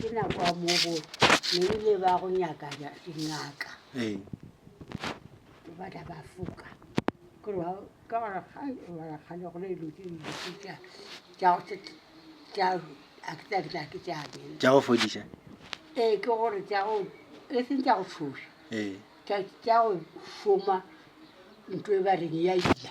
ke na kwa mobo ne ile ba go nyaka dingaka ee ba tla ba foka gore ba ka ba ga ba ga le gole lo ke le tsa tsa tsa a ke tla ke tla ke tsa be tsa go fodisa ee ke gore tsa go e se tsa go fodisa ee tsa tsa go foma ntwe ba re ya ija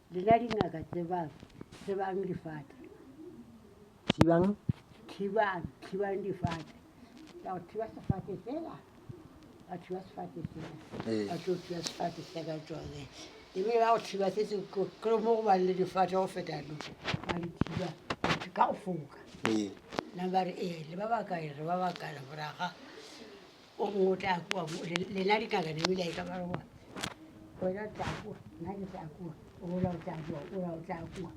Lena dingaka tsebang, tsebang difate. Thibang. Thibang, thibang difate. Ya go thiba sefate sela. Ba thiba sefate sela. Ee. Ba tlo thiba sefate se ka tsone. Ebile ba go thiba se se ko ke mo go bang le difate go feta lo. Ba di thiba ka go foka. Ee. Nna ba re ee le ba bakae re ba bakae go raga. o mongwe o tla kua mo lena dingaka ne mile ka ba goa wena o tla kua nna ke tla kua ola o tla kua ola o tla kua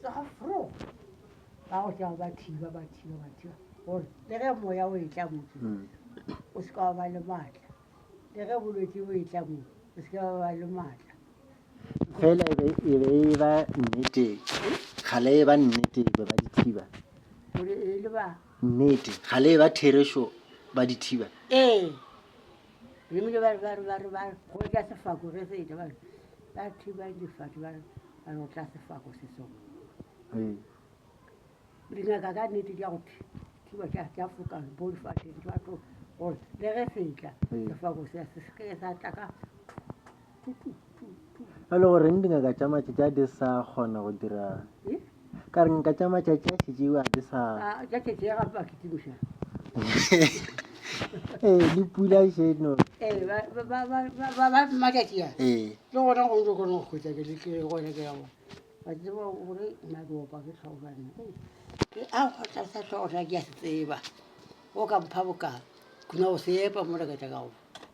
tsoga fro ba go tšao ba thiba ba thiba ba thiba gore le ge moya o e tla motse mm. o se ka wa ba le maatla le ge bolwetse bo e tla mo o se ka wa ba le maatla fela e be e be e ba nnete kgale e ba nnete be ba dithiba gore e le ba Nnete, ga le eba therešo ba dithiba? Ee. Lemile ba re, ba re, ba re, ba re, go tla sefako ge se etla, ba re, ba thiba difate, ba re, ba re, go tla sefako se sengwe. Ee. Dingaka ka nnete di ya go thiba tša tša foka bo difateng tša tlo gore le ge se etla sefako se se se ke sa tla ka a le goreng dingaka tša matšatši a di sa kgona go dira ka re nka tša matšatši a šetšeo a di sa ee le pula šeno ee o ka mpha boka kuna o sepa mo lekatšakago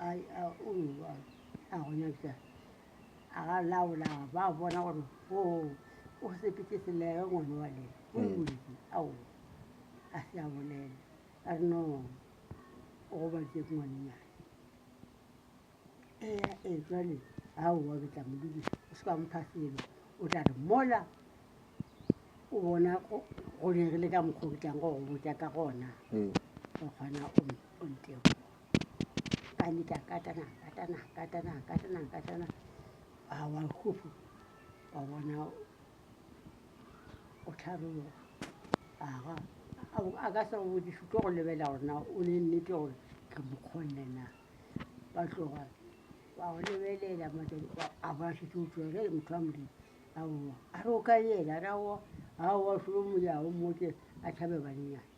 a a o a a gona bja a ga laola ba bona gore o o sepetse selege ngwana wa le o boledi ao a se a bolela a re no o go ba je ngwannyane e ya e jwale a o wa betla modudi o se ka mpha selo o tla re mola o bona go go dirile ka mokgwa o ke tlang go go botsa ka gona o kgona o o nteo a nyita katana katana katana katana katana a wa khufu wa bona o tlharoga aga a ka sa bodišo tlo go lebelela gore na o ne nnete gore ke mokgonne na ba tloga ba go lebelela a ba šetse o tswere motho wa modimo aowa a re o ka yena a re aowa aowa solo moyago moke a tšhabe banenyana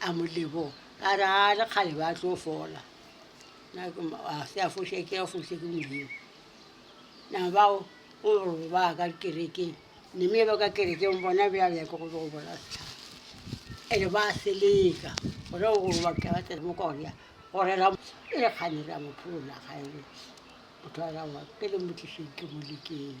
a mo leboga a re a le kgale ba tlo fola a se a foše ke a foše ke modimo na bao o re ba ka kerekeng neme ba ka kerekeng bona bjale ya ke go tlo go bona setlhaba ene ba seleka gore o gore ba ka tsena mo korea gore ra e re kgane ra mo pholola gae motho a rawa pele mo tliseng ke mo lekeng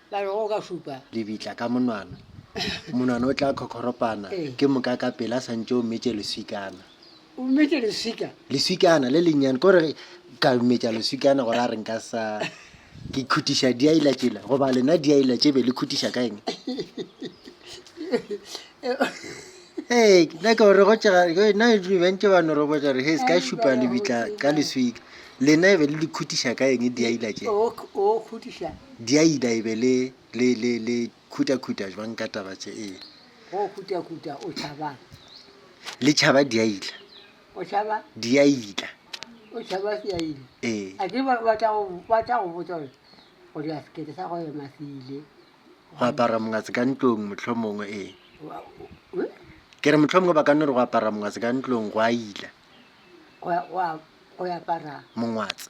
Ba re, Go ka šupa. Lebitla ka monwana. Monwana o tla khokhoropana ke moka ka pele a sa ntše o metše leswikana. O metše leswika? Leswikana le lennyane. Ko re ka metša leswikana gore a re nka sa ke khutiša diaila tšela goba lena diaila tše be le khutiša ka eng? Ee, ke nyaka gore go tšega na e dule bantse ba norobotsa gore he se ka šupa lebitla ka leswika lena e be le le khutiša ka eng diaila tše o k- o khutiša diaila e be le le le le khutakhuta jwang ka taba tše ee go khutakuta o tšhabang le tšhaba diaila o tšhaba diaila o tšhaba seaile ee a ke ba ba tla go ba tla go botsa gore gore a sekete sa go ema se ile go apara mongase ka ntlong mohlomongwe ee ke re mohlomongwe ba ka nno re go apara mongase ka ntlong go a ila mongwatse